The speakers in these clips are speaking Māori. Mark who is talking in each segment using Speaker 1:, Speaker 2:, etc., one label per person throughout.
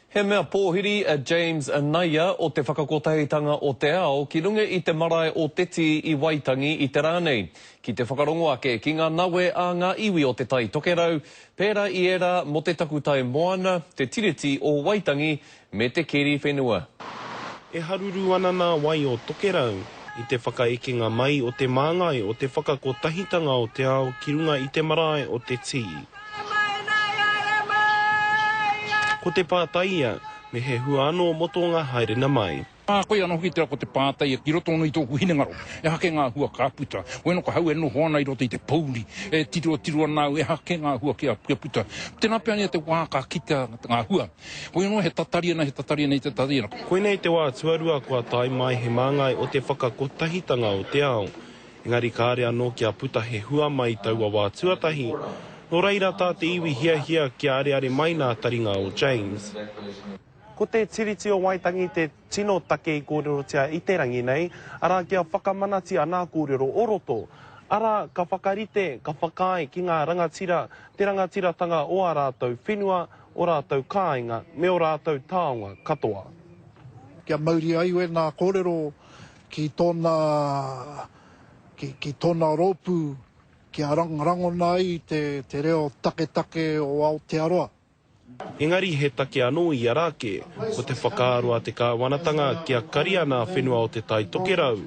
Speaker 1: He mea pōhiri a James Naia o Te Whakakotahitanga o te Ao ki runga i te marae o Te Tī i Waitangi i te rā nei, ki te whakarongo ake ki ngā nawe a ngā iwi o Te Tai Tokerau, pērā i ērā mō te takutai moana, te Tiriti o Waitangi, me te keri whenua. E
Speaker 2: haruru ana ngā wai o Tokerau i te whakaekenga mai o te māngai o Te Whakakotahitanga o te Ao ki runga i te marae o Te Tī. Haere mai, nāi haere mai! Ko te pātai ia, me he hua anō mō tō ngā haerenga mai. Ā, koia anō hoki tērā ko
Speaker 3: te pātai ia, ki roto anō i tōku hinengaro, he aha kē ngā hua ka puta? Wai anō koe hau e noho ana i roto i te pouri, e tirotiro ana au, e aha kē ngā hua kia puta? Tēnā pea ia te wā ka kitea ngā hua. Koia anō, he tatari ana, he tatari ana i te tatari ana. Koinei te wā
Speaker 2: tuarua kua tae mai he māngai o te whakakotahitanga o te ao. Engari kāre anō kia puta he hua mai i taua wā tuatahi, nō reira tā te iwi hiahia kia areare mai nā taringa o James. Ko te Tiriti o Waitangi te tino take i kōrerotia i te rangi nei, arā kia whakamanatia nā kōrero o roto, arā ka whakarite, ka whakaae ki ngā rangatira te rangatiratanga o ā rātou whenua, o rātou kāinga me o rātou taonga katoa. Kia
Speaker 4: mauria ai wēnā kōrero ki tōna, ki tōna rōpū kia rangona ai te reo taketake o Aotearoa. Engari
Speaker 2: he take anō i a Rāke, ko te whakaaro a te kāwanatanga kia kari ana a whenua o Te Tai Tokerau,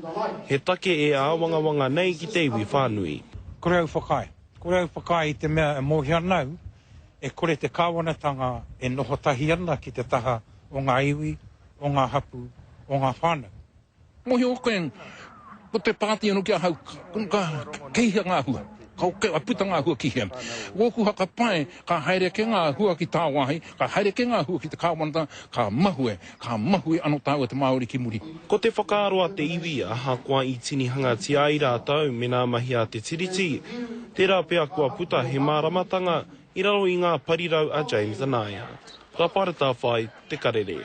Speaker 2: he take e āwangawanga nei ki te iwi whānui. Kore au whakaae.
Speaker 5: Kore au whakaae i te mea e mōhio ana au, e kore te kāwanatanga e noho tahi ana ki te taha o ngā iwi, o ngā hapū, o ngā whānau. Mōhio koe,
Speaker 3: ko te pāti anō ki ahau, ka, kei hea ngā hua? Ka puta ngā hua ki hea? Wōku whakapae, ka haere ake ngā hua ki tāwāhi, ka haere ake ngā hua ki te Kāwanatanga, ka mahue, ka mahue anō tāua te Māori ki muri. Ko te whakaaro a
Speaker 2: te iwi, ahakoa i tinihangatia ai rātou mēnā mahi a te Tiriti, tērā pea kua puta he māramatanga i raro i ngā parirau a James Anaya. Raparatawhai, Te Karere.